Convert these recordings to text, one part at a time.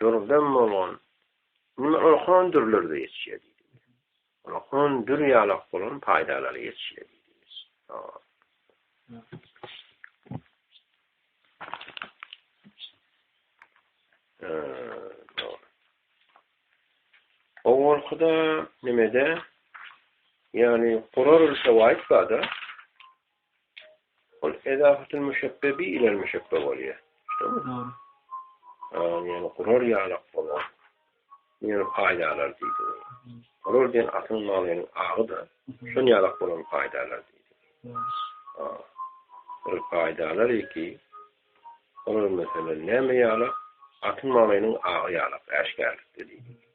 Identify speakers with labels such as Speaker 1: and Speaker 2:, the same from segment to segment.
Speaker 1: Dürden bolan, indi onuň hon dürleri-de ýetişýär diýdi. Onuň hon dür ýalak bolan paýdalary ýetişýär diýdi. Owalky-da nimede, ýagny gurar ülke waýt bar-da. Ol edafatyl müşebbe bi ilel müşebbe bolýar. Şumy? Dogry. Aň ýaly gurar ýalak bolan. Ýöne paýdalar diýdi. Gurar diýen atyň manynyň agy-da, şon ýalak bolan paýdalar diýdi. Ha. Ol paýdalar eki. Olar meselem näme ýalak? Atyň manynyň agy ýalak, äşgärlikde diýdi.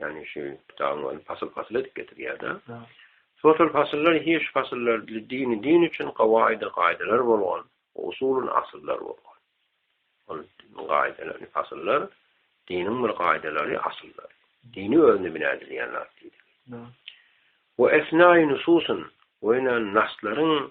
Speaker 1: Ýagny şu kitabyň ony pasyl-pasyl edip getirýär-de. Şo-şol pasyllar hiş pasyllar dini din üçin gawaýydy gaýdalar bolgan, usulun asyllar bolgan. Ol gaýdalary pasyllar diniň bir gaýdalary asyllary. Dini özüne bina edilýän zat diýdi. We esnaýy nususun we ýöne naslaryň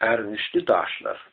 Speaker 1: Ärgişli daşlar.